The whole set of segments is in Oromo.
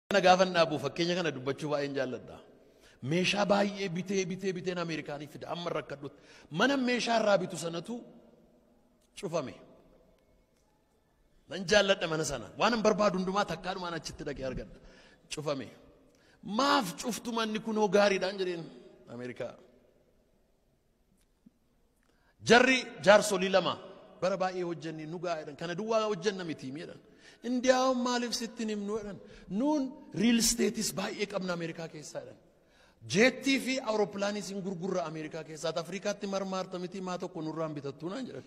kana gaafan dhaabu fakkeenya kana dubbachuu baay'een jaalladha. Meeshaa baay'ee bitee bitee biteen Ameerikaanii fida amma rakkadhutti. Mana meeshaa irraa bitu sanatu cufame. Nan jaalladha mana sana. Waan hin barbaadu hundumaa takkaa dhumaan achitti dhaqee argadha. Cufame. Maaf cuftu manni kunoo gaariidhaan jedheen Ameerikaa. Jarri jaarsolii lama bara baay'ee hojjenne nu ga'a jedhan. Kana duwwaa hojjenna miti jedhan. Indiyaawwan maaliif sitti hin himnu jedhan. Nuun riil isteetis baay'ee qabna Ameerikaa keessaa jedhan. Jeettii fi awurooppilaaniis hin gurgurra Ameerikaa keessaa. Ati Afrikaatti marmaarta miti maa tokko nurraan bitattuu naan jedhan.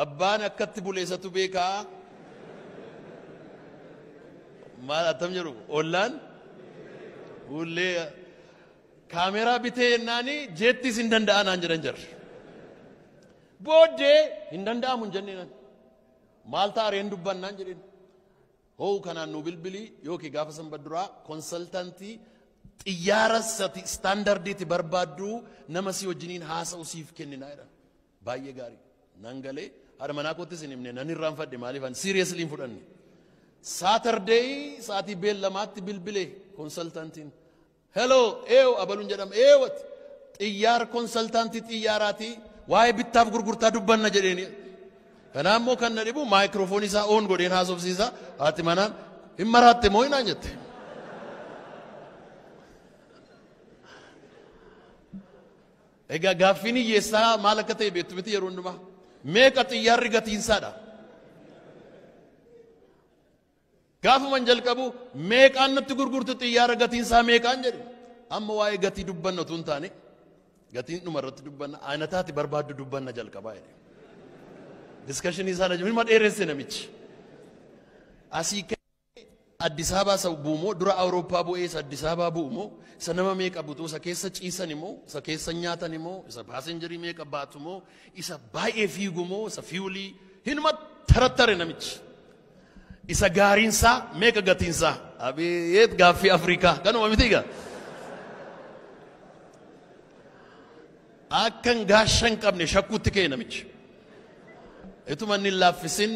Abbaan akkatti bule isatu beeka. Maal attam jedhu ollaan fuullee kaameeraa bitee jennaani jeettis hin danda'a naan jedhan jarri. Booddee hin danda'amu hin jenneen ani. Maal ta'a reen dubbannaan jedheen. Hoo kanaan nu bilbilii yookiin gaafa sanbata duraa konsaltantii xiyyaara sati istaandardiitti barbaaddu nama si wajjiniin haasa'u siif kenninaa jedhan. Baay'ee gaarii nan galee haadha manaa koottis hin himne nan irraanfadhe maaliif ani seriously hin fudhanne. Saturday sa'aatii beellamaatti bilbile konsaltantiin. Hello eew abaluun jedhama eewati xiyyaar konsaltantii xiyyaaraatii waa'ee bittaaf gurgurtaa dubbanna jedheeni. Kanaa immoo kan na dhibu maayikiroofoonii isaa oon godheen haasofsiisa haati manaan hin maraatte moo hinaan jette. Egaa gaaffiin hiyyeessaa maal akka ta'e beektu miti yeroo hundumaa. Meeqa xiyyaarri gatiinsaadha? Gaafuman jalqabu meeqaan natti gurgurtu xiyyaara gatiinsaa meeqaan jedhe. Amma waa'ee gatii dubbanna utuu hin taane gatiin dhuma irratti dubbanna aanataati barbaaddu dubbanna jalqabaa jedhe. Diskashinii isaa na hima dheeresse namichi. Asii Addis Ababaa isa bu'u moo dura Awurooppaa bu'ee isa Addis Ababaa bu'u moo isa nama meeqa butuu isa keessa ciisani moo isa keessa nyaatani moo isa paasenjarii meeqa baatu moo isa baay'ee fiigu moo isa fiiwulii hinuma tarattare namichi. Isa gaariinsaa meeqa gatiinsaa abeet gaaffii Afrikaa kanuma miti egaa. Akkan gaashan qabne shakkuutti ka'e namichi. Ituma inni hin laaffisin.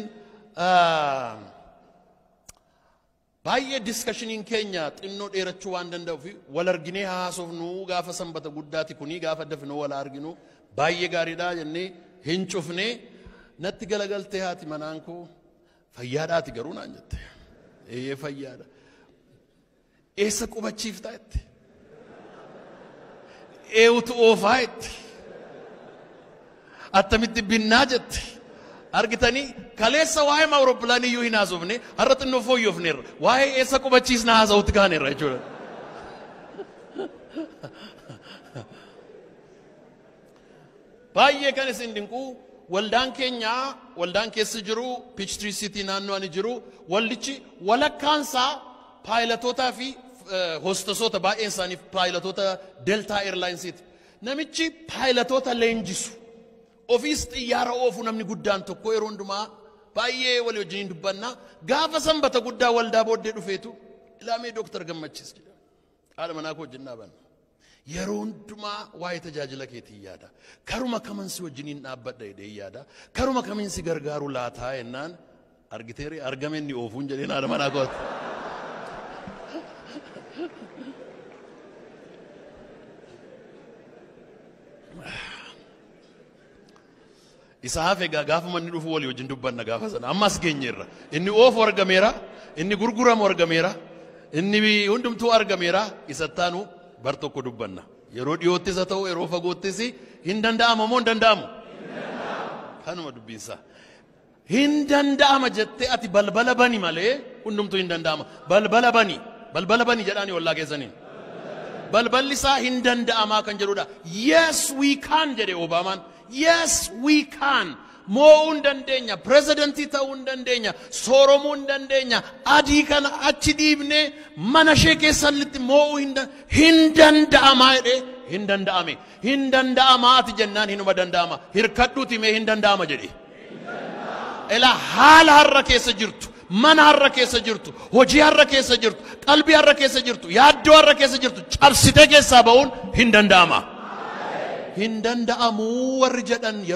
Baay'ee diskashiniin keenya xinnoo dheerachuu waan danda'uuf wal arginee haa haasofnu gaafa sanbata guddaati kunii gaafa dafnoo wal arginu baay'ee gaariidha jennee hin cufnee natti galagaltee haati manaan koo fayyaadhaati garuu naan jette. Eeyyee fayyaadha. Eessa qubachiiftaa itti? Eewutu oofaa itti? Attamitti binnaa jette? Argitanii kaleessa waa'ee awurooppilaanii iyyuu hin haasofne har'a xinnoo fooyyofneerra. Waa'ee eessa qubachiisna haasa'utti kaaneerra jechuudha. Baay'ee kan isin dinqu waldaan keenya waldaan keessa jiru Piichtirii Siitii naannoo ani jiru waldichi walakkaansaa paayilatootaa fi hostasoota baay'een isaanii paayilatoota Deltaa Eerlaayinsiiti. Namichi paayilatoota leenjisu ofiis xiyyaara oofu namni guddaan tokko yeroo hundumaa baay'ee walii wajjin dubbanna gaafa sanbata guddaa waldaa booddee dhufeetu ilaamee dooktar gammachiis jedha. Haadha manaa koo wajjin dhaabanna. Yeroo hundumaa waa'ee tajaajila keetii yaada. Karuma kaman si wajjiniin dhaabbadha jedhee yaada. Karuma kamiin si gargaaru laataa jennaan argiteeri argame inni oofuun jedheen haadha manaa kooti. Isa hafe egaa gaafuma inni dhufu walii wajjin dubbanna gaafa sana. Amma as geenyeerra. Inni oofu argameera, inni gurguramu argameera, inni hundumtuu argameera. Isa ittaanu bar tokko dubbanna. Yeroo dhiyoottis haa ta'u yeroo fagoottis hin danda'ama moo hin danda'amu? Kanuma dubbiinsaa. Hin danda'ama jettee ati balbala bani malee hundumtuu hin danda'ama. Balbala bani. Balbala bani jedhaani ollaa keessaniin. Balballi isaa hin danda'amaa kan jedhudha. Yes we can jedhe Obaamaan. Yes we can. Moo'uu hin dandeenya. Pirezidantii ta'uu hin dandeenya. Sooromuu hin dandeenya. Adii kana achi dhiibnee mana ishee keessatti moo'uu hin dan- hin danda'amaa jedhee hin danda'ame. Hin danda'amaa ati jennaan hinuma danda'ama. Hirkadhuuti mee hin danda'ama jedhe. Ela haala har'a keessa jirtu, mana har'a keessa jirtu, hojii har'a keessa jirtu, qalbii har'a keessa jirtu, yaaddoo har'a keessa jirtu cabsitee keessaa ba'uun hin danda'ama. Hin danda'amuu warri jedhan yeroo